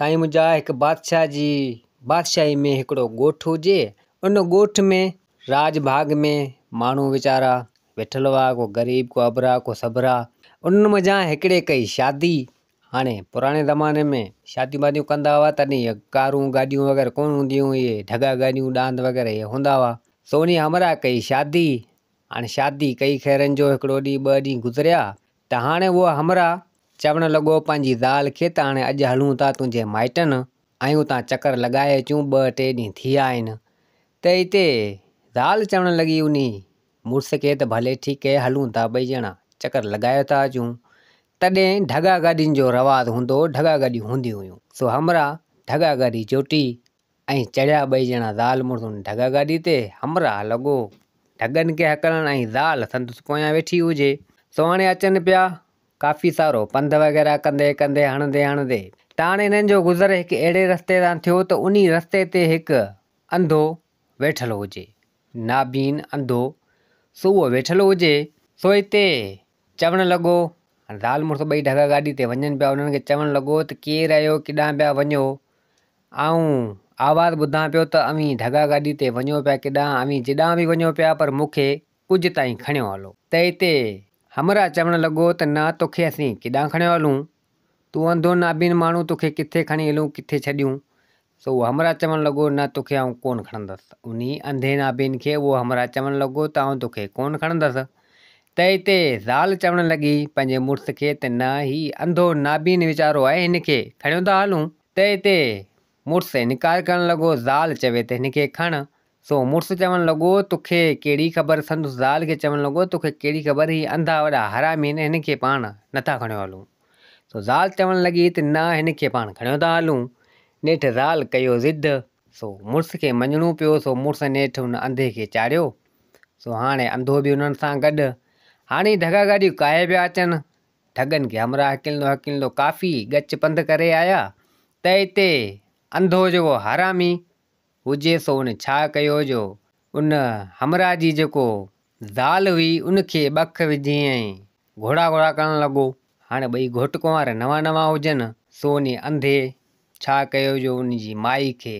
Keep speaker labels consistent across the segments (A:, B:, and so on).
A: سائين منهنجا هڪ بادشاهه جي بادشاهي ۾ هڪڙو ڳوٺ هجي ان ڳوٺ ۾ راڄ ڀاڳ ۾ ماڻهو ويچارا ويٺل هئا ڪو غريب ڪو ابرا ڪو سبرا انهن منجهان هڪڙي ڪئي شادي هاڻي پراڻي زماني ۾ شاديون واديون ڪندا هئا تڏهن اهي ڪارون گاڏيون وغيره ڪونه هونديون هيون اهي ڍڳا گاڏيون ڏاند وغيره اهي هوندا هئا سوني همراهه ڪئي شادي هاڻي شادي ڪئي خيرن جو هڪڙو ڏينهن ٻه ڏينهن گذريا ته هاڻي اهو همراهه چوڻ لڳو پنهنجي زال کي ته هاڻي اڄ هلون ٿا تنهنجي مائٽن ۽ اتان چڪر لڳائي اچون، ٻه ٽي ڏينهن ٿي ويا آهن ته اتي زال چوڻ لڳي انهي مڙس کي ته ڀلي ٺيڪ هي هلون ٿا ٻئي ڄڻا چڪر لڳائي ٿا اچون. تڏهن ڍڳا گاڏين جو رواز هوندو هو، ڍڳا گاڏيون هونديون هيون سو همراهه ڍڳا گاڏي جوٽي ائين چڙهيا ٻئي ڄڻا زال مڙس ان ڍڳ گاڏي تي، همراهه لڳو ڍڳن کي هڪلڻ ۽ زال سندس پويان ويٺي هجي. سهاڻي اچن پيا، ڪافي سارو پنڌ وغيره ڪندي ڪندي هڻندي هڻندي ته هاڻي هنن جو گذر هڪ اهڙي رستي تان ٿيو ته انهي رستي تي هڪ انڌو ويٺل هجي، نابين انڌو، سو اهو ويٺل هجي، سو هتي چوڻ لڳو، زال مڙس ٻئي ڍڳا گاڏي تي وڃن پيا، انهن کي چوڻ لڳو ته ڪير آهيو ڪيڏانهن پيا وڃو؟ آئون آواز ٻڌان پيو ته اوهين ڍڳا گاڏي تي وڃو پيا ڪيڏانهن اوهين جيڏانهن به وڃو پيا پر مون کي ڪج تائين کڻيو هلو. تنهن تي همراهه چوڻ لڳو ته نه توکي اسين ڪيڏانهن کڻيو هلون تون انڌو نابين ماڻهو توکي ڪٿي کڻي هلون ڪٿي ڇڏيون؟ سو اهو همراهه چوڻ لڳو نه توکي آئون ڪونه کڻندس. انهي انڌي نابين کي اهو همراهه چوڻ لڳو ته آئون توکي ڪونه کڻندس. تئي تي زال چوڻ لڳي پنهنجي مڙس کي ته نه هي انڌو نابين ويچارو آهي هن کي کڻيو ٿا هلون. تئي تي مڙس انڪار ڪرڻ لڳو زال چوي ته هن کي کڻ سو مڙس چوڻ لڳو، تو کي ڪهڙي خبر؟ سندس زال کي چوڻ لڳو، تو کي ڪهڙي خبر؟ هي انڌا وڏا حرامي آهن، هنن کي پاڻ نه ٿا کڻيو هلون. سو زال چوڻ لڳي ته نه هن کي پاڻ کڻيو ٿا هلون. نيٺ زال ڪيو ضد. سو مڙس کي مڃڻو پيو. سو مڙس نيٺ ان انڌي کي چاڙهيو. سو هاڻي انڌو به انهن سان گڏ. هاڻي ڍڳا گاڏيون ڪاهي پيا اچن. ڍڳن کي همراهه هڪلندو هڪلندو ڪافي ڳچ پنڌ ڪري آيا ته اتي انڌو جيڪو حرامي. هجي سو ان ڇا ڪيو جو ان همراهه جي جيڪو زال هئي ان کي ٻک وجهي ۽ گهوڙا گهوڙا ڪرڻ لڳو. هاڻي ٻئي گهوٽ ڪنوار نوان نوان هجن سو انهي انڌي ڇا ڪيو جو ان جي مائي کي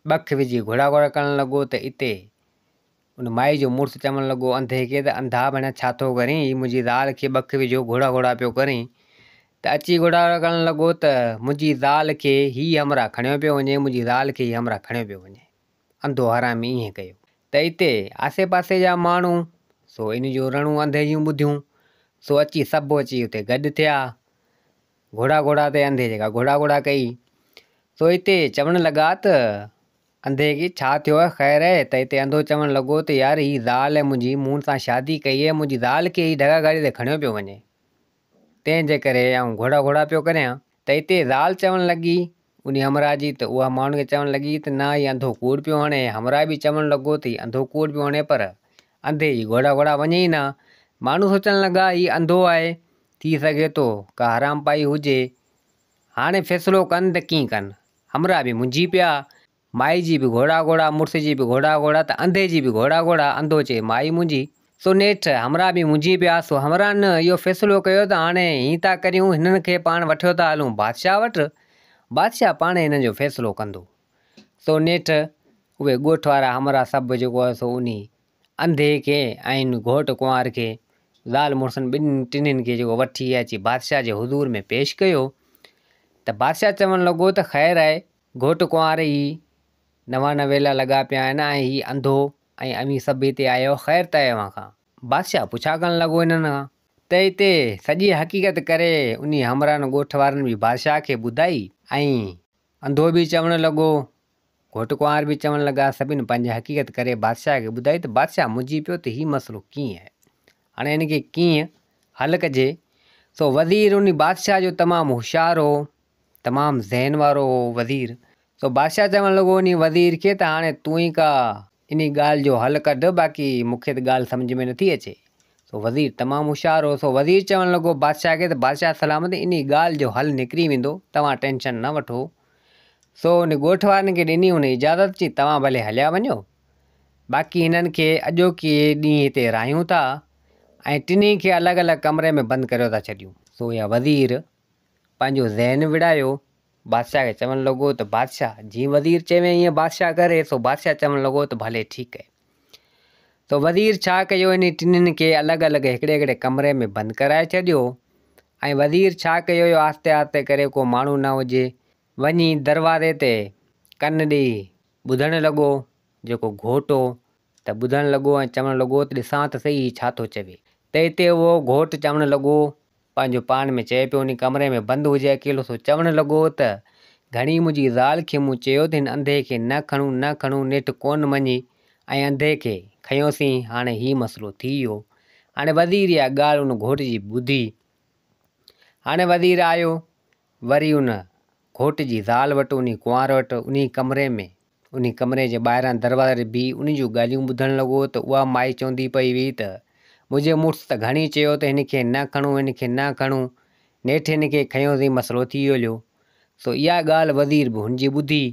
A: ٻک وجهي گهوڙا گهوڙا ڪرڻ لڳو ته اتي ان مائي جو مڙس چوڻ لڳو، انڌي کي ته انڌا ڀڻيا ڇا ٿو ڪرين، هي منهنجي زال کي ٻڪ وجهو گهوڙا گهوڙا پيو ڪرين ته اچي گهوڙا گهوڙا ڪرڻ لڳو ته منهنجي زال کي هي همراهه کڻيو پيو وڃي، منهنجي زال کي هي همراهه کڻيو پيو وڃي. انڌو حرامي ائين ڪيو. ته اتي آسي پاسي جا ماڻهو سو ان جون رڙون انڌي جون ٻڌيون سو اچي سڀ اچي اتي گڏ ٿيا گهوڙا گهوڙا تي انڌي جيڪا گهوڙا گهوڙا ڪئي سو اتي چوڻ لڳا ته. انڌي کي ڇا ٿيو آهي خير آهي؟ ته اتي انڌو چوڻ لڳو ته يار هي زال آهي منهنجي، مون سان شادي ڪئي آهي، منهنجي زال کي هي ڍڳا گاڏي تي کڻيو پيو وڃي، تنهن جي ڪري آئون گهوڙا گهوڙا پيو ڪريان. ته اتي زال چوڻ لڳي انهي همراهه جي ته اها ماڻهن کي چوڻ لڳي ته نه هي انڌو ڪوڙ پيو هڻي، همراهه به چوڻ لڳو ته هي انڌو ڪوڙ پيو هڻي پر انڌي جي گهوڙا گهوڙا وڃي ئي نه، ماڻهو سوچڻ لڳا هي انڌو آهي، ٿي سگهي ٿو ڪا حرام پائي هجي، هاڻي فيصلو ڪن ته ڪيئن ڪن. همراهه به منجهي پيا. مائي جي به گهوڙا گهوڙا، مڙس جي به گهوڙا گهوڙا ته انڌي جي به گهوڙا گهوڙا، انڌو چئي مائي منجهي. سو نيٺ همراهه به منجهي پيا. سو همراهن اهو فيصلو ڪيو ته هاڻي ائين ٿا ڪريون، هنن کي پاڻ وٺيو ٿا هلون بادشاهه وٽ، بادشاهه پاڻهي هنن جو فيصلو ڪندو. سو نيٺ اهي ڳوٺ وارا همراهه سڀ جيڪو هو سو انهي انڌي کي ۽ گهوٽ ڪنوار کي، زال مڙسن ٻنهي ٽنهين کي جيڪو وٺي اچي بادشاهه جي حضور ۾ پيش ڪيو ته بادشاهه چوڻ لڳو ته خير آهي گهوٽ ڪنوار هي نوان نويلا لڳا پيا آهن ۽ هي انڌو ۽ اوهين سڀ هتي آيا آهيو خير ته اوهان کان. بادشاهه پڇا ڪرڻ لڳو انهن کان ته هتي سڄي حقيقت ڪري انهي همراهن ڳوٺ وارن به بادشاهه کي ٻڌائي ۽ انڌو به چوڻ لڳو گهوٽ ڪنوار به چوڻ لڳا، سڀن پنهنجي حقيقت ڪري بادشاهه کي ٻڌائي ته بادشاهه منجهي پيو ته هي مسئلو ڪيئن آهي؟ هاڻي هن کي ڪيئن حل ڪجي؟ سو وزير ان بادشاهه جو تمام هوشيار هو، تمام ذهن وارو هو وزير. سو بادشاهه چوڻ لڳو ان وزير کي ته هاڻي تون ئي ڪا ان ڳالهه جو حل ڪڍ، باقي مون کي ته ڳالهه سمجهه ۾ نٿي اچي. سو وزير تمام هوشيار هو، سو وزير چوڻ لڳو بادشاهه کي ته بادشاهه سلامت ان ڳالهه جو حل نڪري ويندو، توهان ٽينشن نه وٺو. سو ان ڳوٺ وارن کي ڏني هن اجازت چي توهان ڀلي هليا وڃو باقي هنن کي اڄوڪي ڏينهن هتي راهيون ٿا ۽ ٽنهي کي الڳ الڳ ڪمري ۾ بند ڪريو ٿا ڇڏيون. سو اها وزير پنهنجو ذهن وڙهايو بادشاهه کي چوڻ لڳو ته بادشاهه جيئن وزير چوين ايئن بادشاهه ڪري سو بادشاهه چوڻ لڳو ته ڀلي ٺيڪ ڪيو. ته وزير ڇا ڪيو انهن ٽنهن کي الڳ الڳ هڪڙي هڪڙي ڪمري ۾ بند ڪرائي ڇڏيو ۽ وزير ڇا ڪيو اهو آهستي آهستي ڪري ڪو ماڻهو نه هجي وڃي دروازي تي ڪن ڏئي ٻڌڻ لڳو جيڪو گهوٽ هو ته ٻڌڻ لڳو ۽ چوڻ لڳو ته ڏسان ته سهي هي ڇا ٿو چوي ته اتي اهو گهوٽ چوڻ لڳو پنهنجو پاڻ ۾ چئي پيو انهي ڪمري ۾ بند هجي اڪيلو سو چوڻ لڳو ته، ڌڻي منهنجي زال کي مون چيو ته هن انڌي کي نه کڻون نه کڻون نيٺ ڪونه مڃي ۽ انڌي کي کنيوسين هاڻي هي مسئلو ٿي ويو هاڻي وزير اها ڳالهه ان گهوٽ جي ٻڌي هاڻي وزير آيو وري ان گهوٽ جي زال وٽ انهي ڪنوار وٽ انهي ڪمري ۾ انهي ڪمري جي ٻاهران دروازي تي بيهي انهي جون ڳالهيون ٻڌڻ لڳو ته اها مائي چوندي پئي هئي ته منهنجي مڙس ته گهڻي چيو ته هن کي نه کڻون هن کي نه کڻون نيٺ هن کي کنيوسين مسئلو ٿي هليو سو اها ڳالهه وزير به هن جي ٻڌي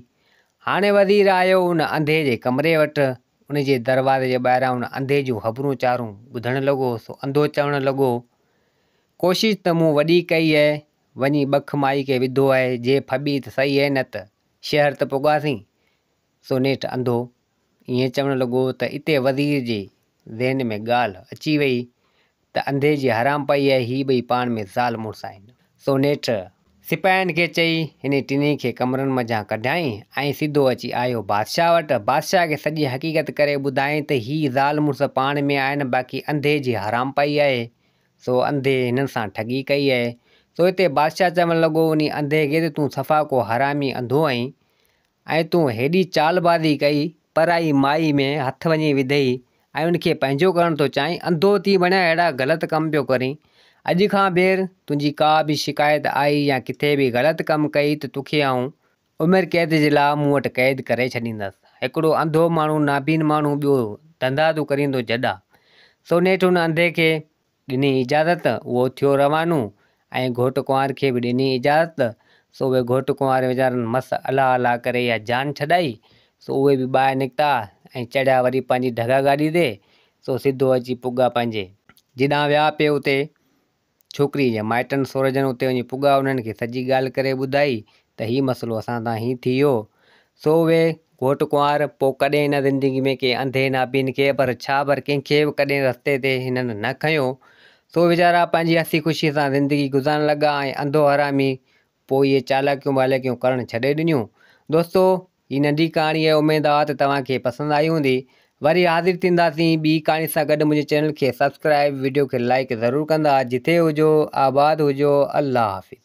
A: هاڻي وزير آيو ان انڌي جي ڪمري وٽ ان جي دروازي جي ٻاهران ان انڌي جون خبرون چارون ٻڌڻ لڳو سو انڌو چوڻ لڳو ڪوشش ته مون وڏي ڪئي اهي وڃي ٻک مائي کي وڌو اهي جي ڦٻي ته سهي اهي نه ته شهر ته پڳاسين سو نيٺ انڌو ائين چوڻ لڳو ته اتي وزير جي ذهن ۾ ڳالهه اچي ويئي ته انڌي جي حرام پئي اهي هي ٻئي پاڻ ۾ زال مڙس آهن سو نيٺ سپاهين کي چئي انهي ٽنهي کي ڪمرن منجهان ڪڍيائين ۽ سڌو اچي آيو بادشاهه وٽ بادشاهه کي سڄي حقيقت ڪري ٻڌائين ته هي زال مڙس پاڻ ۾ آهن باقي انڌي جي حرام پئي اهي سو انڌي هنن سان ٺڳي ڪئي اهي. سو اتي بادشاهه چوڻ لڳو انهي انڌي کي ته تون صفا ڪو حرامي انڌو آهين ۽ تون هيڏي چال بازي ڪئي پرائي مائي ۾ هٿ وڃي وڌئي ۽ ان کي پنهنجو ڪرڻ ٿو چاهين انڌو ٿي بڻيا اهڙا غلط ڪم پيو ڪرين اڄ کان ٻيهر تنهنجي ڪا به شڪايت آئي يا ڪٿي به غلط ڪم ڪئي ته توکي آئون عمر قيد جي لاء مون وٽ قيد ڪري ڇڏيندس. هڪڙو انڌو ماڻهو نابين ماڻهو ٻيو ڌنڌا تو ڪريندو جڏا. سو نيٺ ان انڌي کي ڏني اجازت اهو ٿيو روانو ۽ گهوٽ ڪنوار کي به ڏني اجازت سو اهي گهوٽ ڪنوار ويچارن مس الله الله ڪري اها جان ڇڏائي سو اهي به ٻاهر نڪتا ۽ چڙهيا وري پنهنجي ڍڳا گاڏي تي سو سڌو اچي پڳا پنهنجي جيڏانهن ويا پي اتي ڇوڪريء جي مائٽن سورجن اتي وڃي پڳا انهن کي سڄي ڳالهه ڪري ٻڌائي ته هي مسئلو اسان سان هيئن ٿي ويو. سو اهي گهوٽ ڪنوار پوء ڪڏهن هن زندگي ۾ ڪنهن انڌي نابين کي پر ڇا پر ڪنهن کي به ڪڏهن رستي تي هنن نه کنيو. سو ويچارا پنهنجي هسي خوشيء سان زندگي گذارڻ لڳا ۽ انڌو حرامي پوء اهي چالاڪيون ٻاليڪيون ڪرڻ ڇڏي ڏنيون. دوستو! هي ننڍي ڪهاڻي اهي اميد آ ته توهان کي پسند آئي هوندي وري حاضر ٿينداسين ٻي ڪهاڻي سان گڏ منهنجي چينل کي سبسڪرائب وڊيو کي لائڪ ضرور ڪندا جٿي هجو آباد هجو الله حافظ.